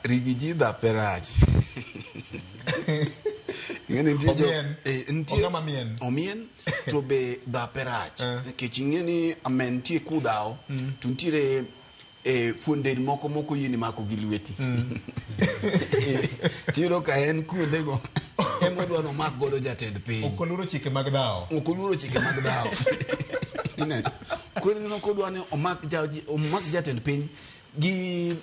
rigiji dhape rach ing'eni nitie jo Omien. eh, nitie- Ong'ama mien. omien to be dhape rach Eh. nikech ing'eni amen nitie kudhawo to nitiere eh, fuon del moko moko yieni mako gi lweti tiyudo ka en kuondego emodwa nomak godo jatend piny ok oluoro chike mag dhawo ok oluoro chike mag dhawo Ineno? koro ineno kodwa ni omak ja- omak jatend piny gi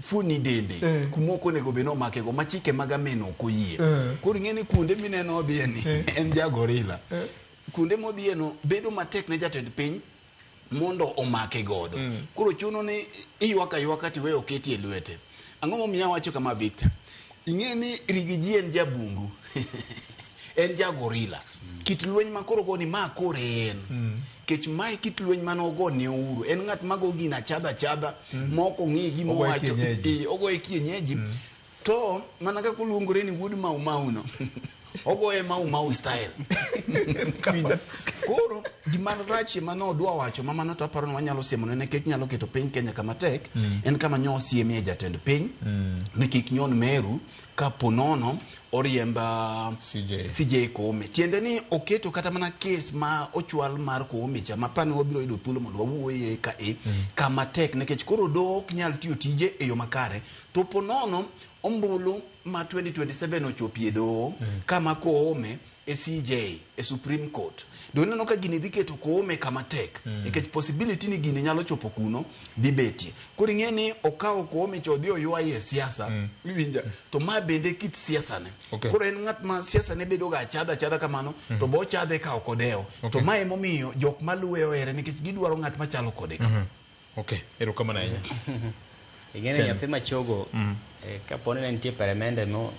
fuoni dende eh. kumoko onego bed ni omake go ma chike mag ameno ok oyie eh. koro ing'e ni kuonde mineno odhiye ni eh. en jagorila eh. kuonde modhiye no bedo matek ne jatend piny mondo omake godo mm. koro chuno ni iywaka ywaka tiweyo oketi e lwete ang'o momiyo awacho kama victor Ing'e ni Rigiji en jabungu. en jagorila. Mm. Kit lweny ma koro goni ma kore en. Mm. Kech ma kit lweny ma nogo ne ouru. En ng'at ma go gina chadha chadha. Mm. Moko ng'i gi mo wacho. Ogo e kienyeji. Mm. To mana ka kuluongore ni wuod mau mau no. ogoye mau mau style Winjo? koro gima rachie ma nodwa wacho ma mano to aparo ni wanyalo siemo ne nikech nyalo keto piny kenya kama tek en kama nyo siemie jatend piny ni kik nyon meru ka ponono oriemb ah, CJ. CJ Koome tiende ni oketo kata mana kes ma ochwal mar Koome cha ma pane wabiro yudo thuolo mondo wawuoye ka e kama tek nikech koro doho ok nyal tiyo tije e yo makare to ponono Ombulu ma 2027 ochopie doho mm. kama Koome e CJ e Supreme Court do ineno ka gini dhi keto Koome kama tek mm. nikech mm. possibility ni gini nyalo chopo kuno dhi betie koro ing'e ni okawo Koome cho dhi oywaye e siasa mm. iwinja to ma bende kit siasa ne okay. koro en ng'at ma siasa ne bedo ga chadha chadha kamano mm. to bo chadhe ka okodewo okay. to ma emomiyo jok maluwe ohere nikech gidwaro ng'at machalo kode mm -hmm. Okay, erokamano ahinya. Ing'eni Ken. nyathi machogo Mm. eh, kaponi ne nitie peremende mo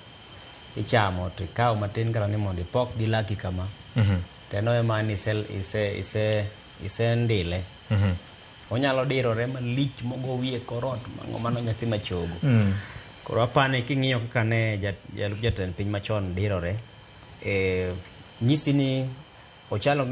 ichamo to ikawo matin kata ni mondo ipok gi laki kama Mhm. to eno ema ni ise, ise, ise, ise ndile Mhm. onyalo dirore malich mogo wiye korot mango mano nyathi machogo Mm. koro apani king'iyo kaka ne ja- jalup jatend piny machon dirore eh, nyisi ni ochalo gi